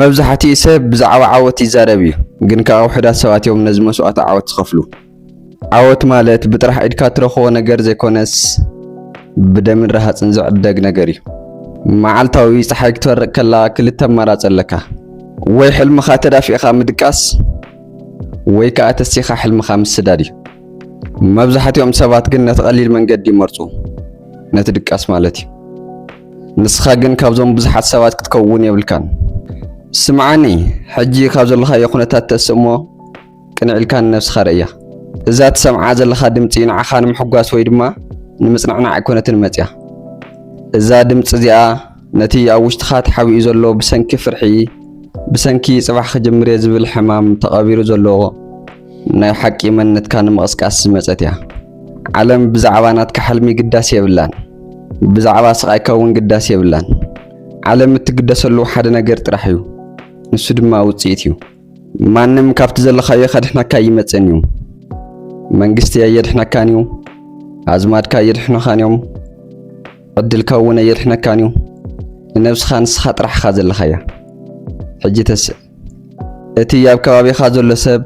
መብዛሕቲኡ ሰብ ብዛዕባ ዓወት ይዛረብ እዩ ግን ከኣ ውሑዳት ሰባት እዮም ነዚ መስዋእቲ ዓወት ዝኸፍሉ። ዓወት ማለት ብጥራሕ ኢድካ እትረኽቦ ነገር ዘይኮነስ ብደምን ረሃጽን ዝዕደግ ነገር እዩ። መዓልታዊ ጸሓይ ክትበርቕ ከላ ክልተ ኣማራጺ ኣለካ። ወይ ሕልምኻ ተዳፊእኻ ምድቃስ ወይ ከኣ ተሲኻ ሕልምኻ ምስዳድ እዩ። መብዛሕቲኦም ሰባት ግን ነቲ ቀሊል መንገዲ ይመርጹ፣ ነቲ ድቃስ ማለት እዩ። ንስኻ ግን ካብዞም ብዙሓት ሰባት ክትከውን የብልካን። ስምዓኒ፣ ሕጂ ካብ ዘለኻዮ ኩነታት ተስእ'ሞ ቅንዕ ኢልካ ንነብስኻ ርእያ። እዛ ትሰምዓ ዘለኻ ድምጺ ንዓኻ ንምሕጓስ ወይ ድማ ንምጽንዕናዕ ኣይኮነትን መጺኣ። እዛ ድምጺ እዚኣ ነቲ ኣብ ውሽጥኻ ተሓቢኡ ዘሎ ብሰንኪ ፍርሒ፣ ብሰንኪ ጽባሕ ክጅምር'የ ዝብል ሕማም ተቐቢሩ ዘሎ፣ ናይ ሓቂ መንነትካ ንምቕስቃስ ዝመጸት እያ። ዓለም ብዛዕባ ናትካ ሕልሚ ግዳስ የብላን። ብዛዕባ ስቓይካ እውን ግዳስ የብላን። ዓለም እትግደሰሉ ሓደ ነገር ጥራሕ እዩ፣ ንሱ ድማ ውጽኢት እዩ። ማንም ካብቲ ዘለኻዮ ከድሕነካ ኣይመጽእን እዩ። መንግስቲ ኣየድሕነካን እዩ፣ ኣዝማድካ ኣየድሕኑኻን እዮም፣ ዕድልካ እውን ኣየድሕነካን እዩ። ንነብስኻ ንስኻ ጥራሕ ኢኻ ዘለኻያ። ሕጂ ተስእ። እቲ ኣብ ከባቢኻ ዘሎ ሰብ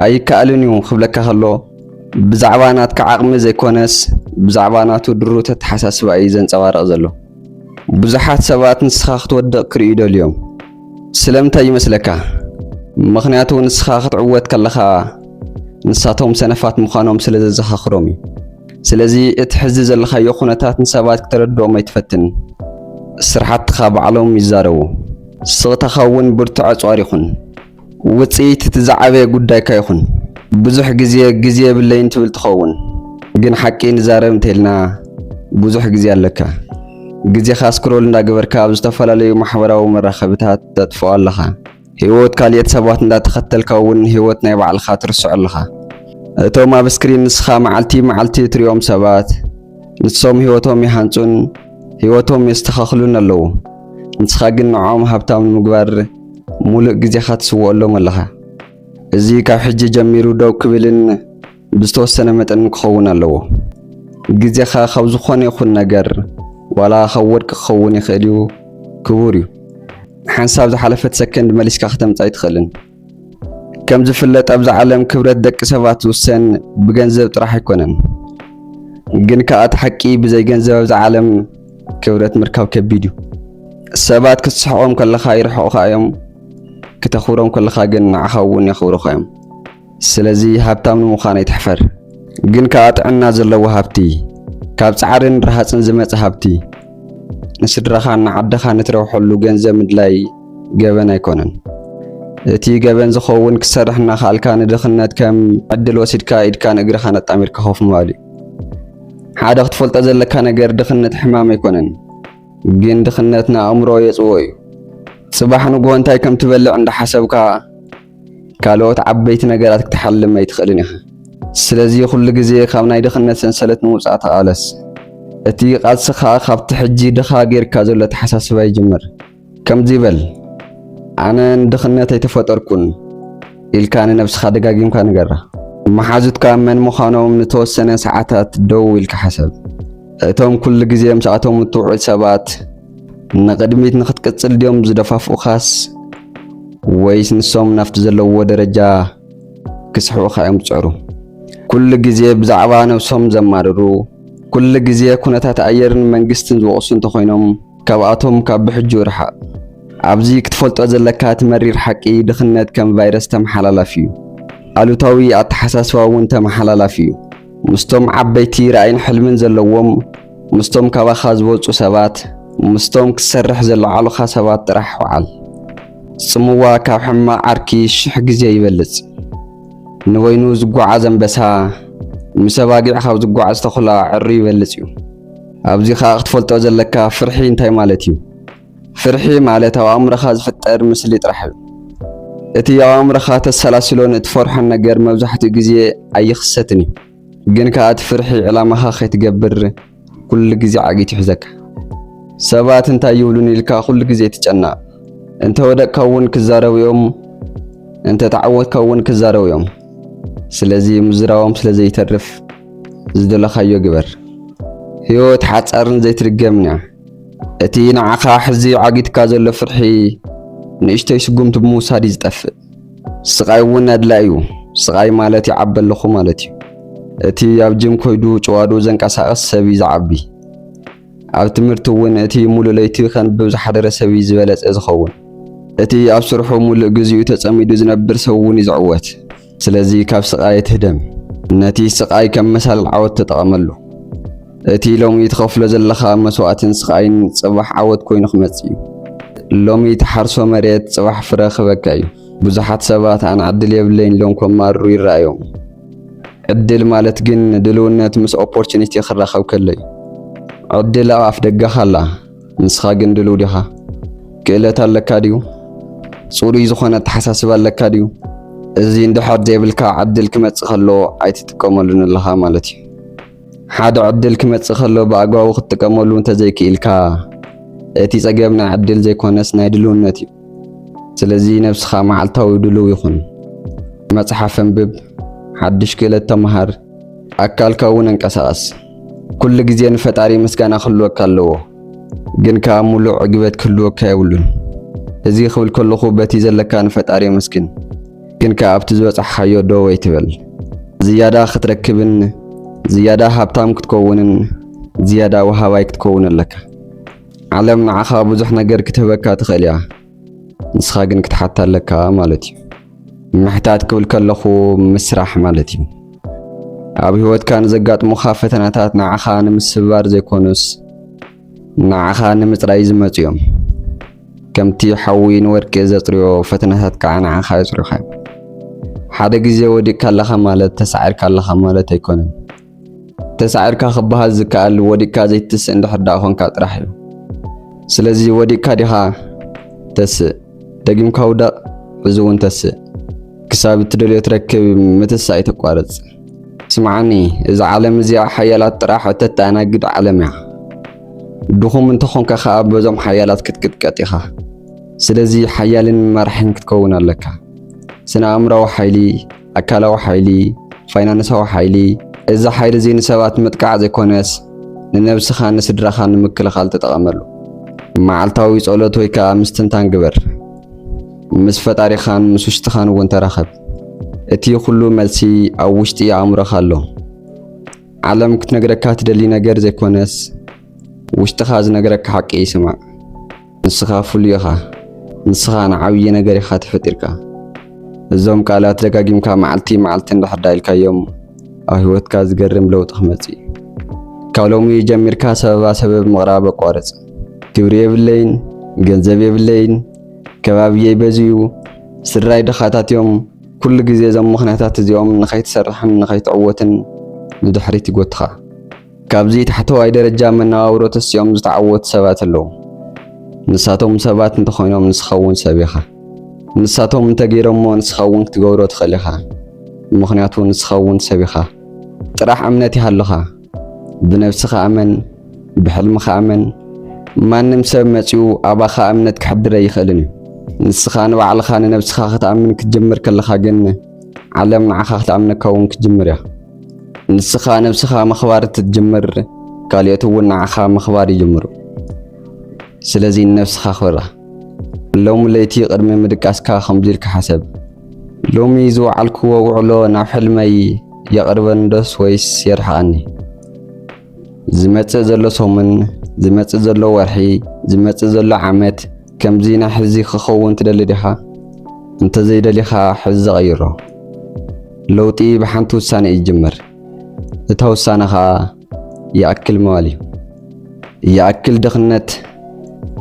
ኣይከኣልን እዩ ክብለካ ከሎ ብዛዕባ ናትካ ዓቕሚ ዘይኮነስ ብዛዕባ ናቱ ድሩት ኣተሓሳስባ እዩ ዘንጸባርቕ ዘሎ። ብዙሓት ሰባት ንስኻ ክትወድቕ ክርእዩ ደልዮም። ስለምንታይ ይመስለካ? ምኽንያቱ ንስኻ ክትዕወት ከለኻ ንሳቶም ሰነፋት ምዃኖም ስለ ዘዘኻኽሮም እዩ። ስለዚ እቲ ሕዚ ዘለኻዮ ኩነታት ንሰባት ክተረድኦም ኣይትፈትን። ስርሓትኻ ባዕሎም ይዛረቡ። ስቕታኻ እውን ብርቱዕ ኣጽዋር ይኹን። ውጽኢት እቲ ዝዓበየ ጉዳይካ ይኹን። ብዙሕ ግዜ ግዜ የብለይን ትብል ትኸውን። ግን ሓቂ ንዛረብ እንተይልና ብዙሕ ግዜ ኣለካ። ግዜኻ ስክሮል እንዳገበርካ ኣብ ዝተፈላለዩ ማሕበራዊ መራኸብታት ተጥፍኦ ኣለኻ። ሂወት ካልኦት ሰባት እንዳተኸተልካ እውን ሂወት ናይ ባዕልኻ ትርስዖ ኣለኻ። እቶም ኣብ ስክሪን ንስኻ መዓልቲ መዓልቲ እትሪኦም ሰባት ንሶም ሂወቶም ይሃንጹን ሂወቶም የስተኻኽሉን ኣለዉ። ንስኻ ግን ንዖኦም ሃብታም ንምግባር ሙሉእ ግዜኻ ትስውኦሎም ኣለኻ። እዚ ካብ ሕጂ ጀሚሩ ደው ክብልን ብዝተወሰነ መጠን ክኸውን ኣለዎ። ግዜኻ ካብ ዝኾነ ይኹን ነገር ዋላ ካብ ወርቂ ክኸውን ይኽእል እዩ፣ ክቡር እዩ። ሓንሳብ ዝሓለፈት ሰከንድ መሊስካ ከተምጻ ኣይትኽእልን። ከም ዝፍለጥ ኣብዚ ዓለም ክብረት ደቂ ሰባት ዝውሰን ብገንዘብ ጥራሕ ኣይኮነን። ግን ከዓ እቲ ሓቂ ብዘይ ገንዘብ ኣብዚ ዓለም ክብረት ምርካብ ከቢድ እዩ። ሰባት ክትስሕቆም ከለኻ ይርሕቑኻ እዮም፣ ክተኽብሮም ከለኻ ግን ንዓኻ እውን የኽብሩኻ እዮም። ስለዚ ሃብታም ንምዃን ኣይትሕፈር። ግን ከኣ ጥዕና ዘለዎ ሃብቲ፣ ካብ ጻዕርን ረሃጽን ዝመጸ ሃብቲ፣ ንስድራኻን ንዓድኻን እትረብሐሉ ገንዘብ ምድላይ ገበን ኣይኮነን። እቲ ገበን ዝኸውን ክትሰርሕ እናኸኣልካ ንድኽነት ከም ዕድል ወሲድካ ኢድካን እግርኻን ኣጣሚርካ ኮፍ ምባል እዩ። ሓደ ክትፈልጦ ዘለካ ነገር ድኽነት ሕማም ኣይኮነን። ግን ድኽነት ንኣእምሮ የጽዎ እዩ። ጽባሕ ንግሆ እንታይ ከም ትበልዕ እንዳሓሰብካ ካልኦት ዓበይቲ ነገራት ክትሓልም ኣይትኽእልን ኢኻ። ስለዚ ኩሉ ግዜ ካብ ናይ ድኽነት ሰንሰለት ንምውጻእ ተቓለስ። እቲ ቓልስኻ ካብቲ ሕጂ ድኻ ጌርካ ዘሎ ኣተሓሳስባ ይጅምር። ከምዚ በል፣ ኣነ ንድኽነት ኣይተፈጠርኩን ኢልካ ንነብስኻ ደጋጊምካ ንገራ። መሓዙትካ መን ምዃኖም ንተወሰነ ሰዓታት ደው ኢልካ ሕሰብ። እቶም ኩሉ ግዜ ምስኣቶም እትውዕል ሰባት፣ ንቕድሚት ንኽትቅጽል ድዮም ዝደፋፍኡኻስ ወይስ ንሶም ናብቲ ዘለዎ ደረጃ ክስሕቡኻ እዮም ዝጽዕሩ? ኩሉ ግዜ ብዛዕባ ነብሶም ዘማርሩ፣ ኩሉ ግዜ ኩነታት ኣየርን መንግስትን ዝወቕሱ እንተኾይኖም ካብኣቶም ካብ ብሕጁ ርሓቕ። ኣብዚ ክትፈልጦ ዘለካ እቲ መሪር ሓቂ ድኽነት ከም ቫይረስ ተመሓላላፊ እዩ። ኣሉታዊ ኣተሓሳስባ እውን ተመሓላላፊ እዩ። ምስቶም ዓበይቲ ራእይን ሕልምን ዘለዎም፣ ምስቶም ካባኻ ዝወጹ ሰባት፣ ምስቶም ክትሰርሕ ዘለዓሉኻ ሰባት ጥራሕ ውዓል። ጽምዋ ካብ ሕማቕ ዓርኪ ሽሕ ግዜ ይበልጽ። ንበይኑ ዝጓዓዝ ኣንበሳ፣ ምስ ኣባጊዕ ካብ ዝጓዓዝ ተኹላ ዕርዩ ይበልጽ እዩ። ኣብዚ ኸኣ ክትፈልጦ ዘለካ ፍርሒ እንታይ ማለት እዩ። ፍርሒ ማለት ኣብ ኣእምሮኻ ዝፍጠር ምስሊ ጥራሕ እዩ። እቲ ኣብ ኣእምሮኻ ተሰላስሎን እትፈርሖን ነገር መብዛሕትኡ ግዜ ኣይኽሰትን እዩ። ግን ከኣ እቲ ፍርሒ ዕላማኻ ከይትገብር ኩሉ ግዜ ዓጊት ይሕዘካ። ሰባት እንታይ ይብሉኒ ኢልካ ኩሉ ግዜ ትጨነቕ። እንተ ወደቕካ እውን ክዛረቡ እዮም፣ እንተ ተዓወትካ እውን ክዛረቡ እዮም። ስለዚ ምዝራቦም ስለ ዘይተርፍ ዝደለኻዮ ግበር። ህይወት ሓጻርን ዘይትድገምን እያ። እቲ ንዓኻ ሕዚ ዓጊትካ ዘሎ ፍርሒ ንእሽተይ ስጉምቲ ብምውሳድ እዩ ዝጠፍእ። ስቃይ እውን ኣድላይ እዩ። ስቃይ ማለት ይዓቢ ኣለኹ ማለት እዩ። እቲ ኣብ ጅም ኮይዱ ጭዋዱ ዘንቀሳቅስ ሰብ እዩ ዝዓቢ። ኣብ ትምህርቲ እውን እቲ ሙሉእ ለይቲ ከንብብ ዝሓደረ ሰብ እዩ ዝበለጸ ዝኸውን። እቲ ኣብ ስርሑ ሙሉእ ግዚኡ ተጸሚዱ ዝነብር ሰብ እውን እዩ ዝዕወት። ስለዚ ካብ ስቃይ ኣይትህደም። ነቲ ስቃይ ከም መሳልል ዓወት ተጠቐመሉ። እቲ ሎሚ ትኸፍሎ ዘለኻ መስዋእትን ስቓይን ጽባሕ ዓወት ኮይኑ ክመጽእ እዩ። ሎሚ ተሓርሶ መሬት ጽባሕ ፍረ ክበካ እዩ። ብዙሓት ሰባት ኣነ ዕድል የብለይን ኢሎም ከማርሩ ይረኣዮም። ዕድል ማለት ግን ድልውነት ምስ ኦፖርቹኒቲ ክራኸብ ከሎ እዩ። ዕድል ኣብ ኣፍ ደገኻ ኣላ፣ ንስኻ ግን ድልው ዲኻ? ክእለት ኣለካ ድዩ? ጽሩይ ዝኾነ ኣተሓሳስባ ኣለካ ድዩ? እዚ እንድሕር ዘይብልካ ዕድል ክመጽእ ከሎ ኣይትጥቀመሉን ኣለኻ ማለት እዩ። ሓደ ዕድል ክመጽእ ከሎ ብኣግባቡ ክትጥቀመሉ እንተዘይክኢልካ እቲ ጸገም ናይ ዕድል ዘይኮነስ ናይ ድልውነት እዩ። ስለዚ ነብስኻ መዓልታዊ ድልው ይኹን። መጽሓፍ እንብብ፣ ሓድሽ ክእለት ተመሃር፣ ኣካልካ እውን ኣንቀሳቐስ። ኩሉ ግዜ ንፈጣሪ ምስጋና ክህልወካ ኣለዎ፣ ግን ከኣ ሙሉእ ዕግበት ክህልወካ የብሉን። እዚ ክብል ከለኹ በቲ ዘለካ ንፈጣሪ ኣመስግን። ግን ከኣ ኣብቲ ዝበጻሕካዮ ደው ኣይትበል። ዝያዳ ክትረክብን ዝያዳ ሃብታም ክትከውንን ዝያዳ ወሃባይ ክትከውን ኣለካ። ዓለም ንዓኻ ብዙሕ ነገር ክትህበካ ትኽእል እያ፣ ንስኻ ግን ክትሓታ ኣለካ ማለት እዩ። ምሕታት ክብል ከለኹ ምስራሕ ማለት እዩ። ኣብ ህይወትካ ንዘጋጥሙኻ ፈተናታት ንዓኻ ንምስብባር ዘይኮኑስ ንዓኻ ንምጽራይ ዝመጹ እዮም። ከምቲ ሓዊ ንወርቂ ዘጽርዮ ፈተናታት ከዓ ንዓኻ የጽርዮኻ እዮም። ሓደ ግዜ ወዲቕካ ኣለኻ ማለት ተሳዒርካ ኣለኻ ማለት ኣይኮነን። ተሳዒርካ ክበሃል ዝከኣል ወዲቕካ ዘይትስእ እንድሕር ደኣ ኮንካ ጥራሕ እዩ። ስለዚ ወዲቕካ ዲኻ? ተስእ። ደጊምካ ውደቕ፣ ሕዚ እውን ተስእ። ክሳብ እትደልዮ ትረክብ ምትሳእ ኣይተቋርጽ። ስምዓኒ እዛ ዓለም እዚኣ ሓያላት ጥራሕ እተተኣናግድ ዓለም እያ። ድኹም እንተኾንካ ከኣ በዞም ሓያላት ክትቅጥቀጥ ኢኻ። ስለዚ ሓያልን መራሒን ክትከውን ኣለካ። ስነ ኣእምራዊ ሓይሊ፣ ኣካላዊ ሓይሊ፣ ፋይናንሳዊ ሓይሊ፣ እዚ ሓይሊ እዚ ንሰባት ምጥቃዕ ዘይኮነስ ንነብስኻን ንስድራኻን ንምክልኻል ተጠቐመሉ። መዓልታዊ ጸሎት ወይ ከኣ ምስትንታን ግበር። ምስ ፈጣሪኻን ምስ ውሽጥኻን እውን ተራኸብ። እቲ ኩሉ መልሲ ኣብ ውሽጢ ኣእምሮኻ ኣሎ። ዓለም ክትነግረካ ትደሊ ነገር ዘይኮነስ ውሽጥኻ ዝነግረካ ሓቂ ስማዕ። ንስኻ ፍሉይ ኢኻ። ንስኻ ንዓብዪ ነገር ኢኻ ተፈጢርካ። እዞም ቃላት ደጋጊምካ መዓልቲ መዓልቲ እንድሕር ዳ ኢልካዮም ኣብ ህይወትካ ዝገርም ለውጢ ክመጽእ እዩ። ካብ ሎሚ ጀሚርካ ሰበባ ሰበብ ምቕራብ ኣቋርጽ። ግብሪ የብለይን፣ ገንዘብ የብለይን፣ ከባብየይ በዚዩ፣ ስድራይ ድኻታት እዮም፣ ኩሉ ግዜ እዞም ምኽንያታት እዚኦም ንኸይትሰርሕን ንኸይትዕወትን ንድሕሪት ይጎትኻ። ካብዚ ታሕተዋይ ደረጃ መነባብሮ ተሲኦም ዝተዓወቱ ሰባት ኣለዉ። ንሳቶም ሰባት እንተኾይኖም ንስኻውን ሰብ ኢኻ። ንሳቶም እንተገይሮሞ ንስኻውን ክትገብሮ ትኽእል ኢኻ፣ ምኽንያቱ ንስኻውን ሰብ ኢኻ። ጥራሕ እምነት ይሃልኻ። ብነብስኻ እመን ብሕልምኻ እመን ማንም ሰብ መጺኡ ኣባኻ እምነት ክሕድር ኣይኽእልን እዩ ንስኻ ንባዕልኻ ንነብስኻ ክትኣምን ክትጀምር ከለኻ ግን ዓለም ንዓኻ ክትኣምነካ እውን ክትጅምር እያ ንስኻ ነብስኻ ምኽባር እትትጅምር ካልኦት እውን ንዓኻ ምኽባር ይጅምሩ ስለዚ ንነብስኻ ክብራ ሎሚ ለይቲ ቅድሚ ምድቃስካ ከምዚ ኢልካ ሓሰብ ሎሚ ዝወዓልክዎ ውዕሎ ናብ ሕልመይ የቕርበኒ ዶስ ወይስ የርሕቐኒ? ዝመጽእ ዘሎ ሰሙን፣ ዝመጽእ ዘሎ ወርሒ፣ ዝመጽእ ዘሎ ዓመት ከምዚ ናይ ሕዚ ክኸውን ትደሊ ዲኻ? እንተዘይደሊኻ ሕዚ ቐይሮ። ለውጢ ብሓንቲ ውሳነ እዩ ዝጅምር። እታ ውሳነ ኸኣ ይኣክል ምባል እዩ። ይኣክል ድኽነት፣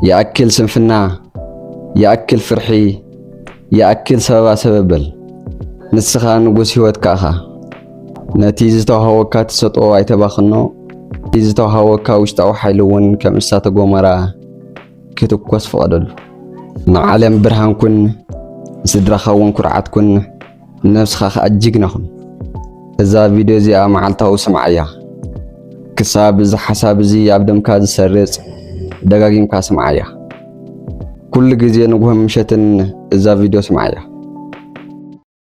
ይኣክል ስንፍና፣ ይኣክል ፍርሒ፣ ይኣክል ሰበባ ሰበብ በል። ንስኻ ንጉስ ህይወትካ ኢኻ። ነቲ ዝተዋሃወካ ተሰጥኦ ኣይተባኽኖ። እቲ ዝተዋሃወካ ውሽጣዊ ሓይሊ እውን ከም እሳተ ጎመራ ክትኮስ ፍቐደሉ። ንዓለም ብርሃን ኩን፣ ንስድራኻ እውን ኩርዓት ኩን። ነብስኻ ከኣ ጅግና ኩን። እዛ ቪድዮ እዚኣ መዓልታዊ ስምዓያ ክሳብ እዚ ሓሳብ እዚ ኣብ ደምካ ዝሰርጽ ደጋጊምካ ስምዓያ። ኩሉ ግዜ ንግሆን ምሸትን እዛ ቪድዮ ስምዓያ።